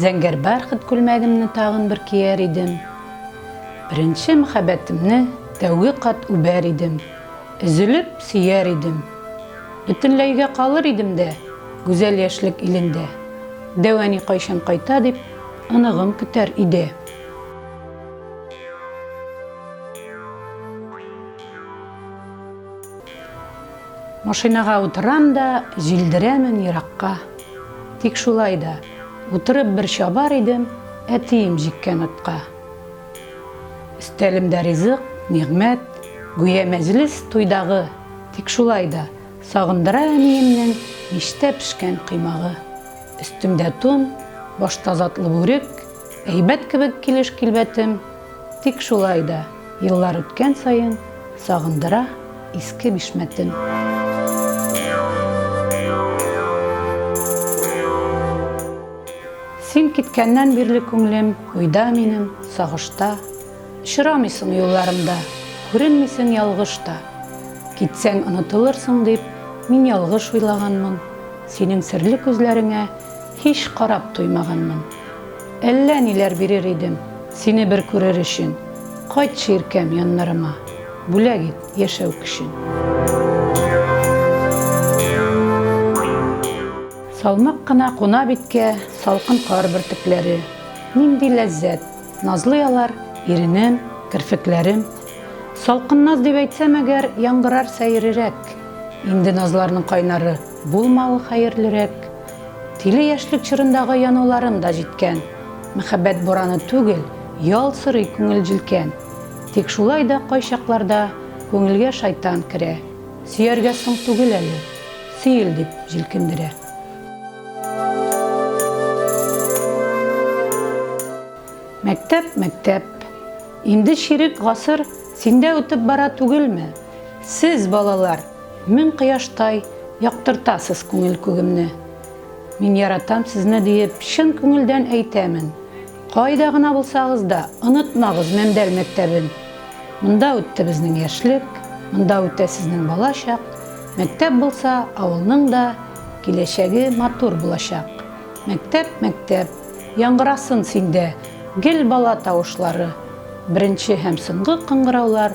Зәңгәр бархыт күлмәгемне тагын бер кияр идем, Беренче мөхәббәтемне тәүге кат үбәр идем, Өзелеп сөяр идем, Бөтенләйгә калыр идем дә Гүзәл яшьлек илендә, Дәү әни кайчан кайта дип Оныгым көтәр иде. Машинага утырам да, җилдерәмен еракка. Тик шулай да, утырып бер чабар идем, әтием җиккән атка. Өстәлемдә ризык, нигъмәт, гүя мәҗлес туйдагы. Тик шулай да, сагындыра әниемнең мичтә пешкән коймагы. Өстемдә тун, башта затлы бүрек, Әйбәт кебек килеш-килбәтем, тик шулай да, еллар үткән саен, сагындыра иске бишмәтем. Син киткәннән бирле күңлем уйда минем, сагышта, очрамыйсың юлларымда, күренмисең ялгыш та. Китсәң онытылырсың дип, мин ялгыш уйлаганмын, синең серле күзләреңә һич карап туймаганмын. Әллә ниләр бирер идем, Сине бер күрер өчен. Кайтчы, иркәм, яннарыма, Бүләк ит яшәү көчен. Салмак кына куна биткә Салкын кар бөртекләре. Нинди ләззәт! Назлый алар, иренем, керфекләрем. Салкын наз дип әйтсәм әгәр, Яңгырар сәерерәк. Инде назларның кайнары Булмавы хәерлерәк. Тиле яшьлек чорындагы януларым да җиткән. Мәхәббәт бураны түгел, ял сорый күңел җилкән. Тик шулай да кайчакларда күңелгә шайтан керә. Сөяргә соң түгел әле, сөел дип җилкендерә. Мәктәп, мәктәп. Инде чирек гасыр синдә үтеп бара түгелме? Сез, балалар, Мең кояштай яктыртасыз күңел күгемне. Мин яратам сезне диеп чын күңелдән әйтәмен. Кайда гына булсагыз да, онытмагыз Мәмдәл мәктәбен. Монда үтте безнең яшьлек, монда үтә сезнең бала чак. Мәктәп булса, авылның да киләчәге матур булачак. Мәктәп, мәктәп, яңгырасын синдә гел бала тавышлары, беренче һәм соңгы кыңгыраулар.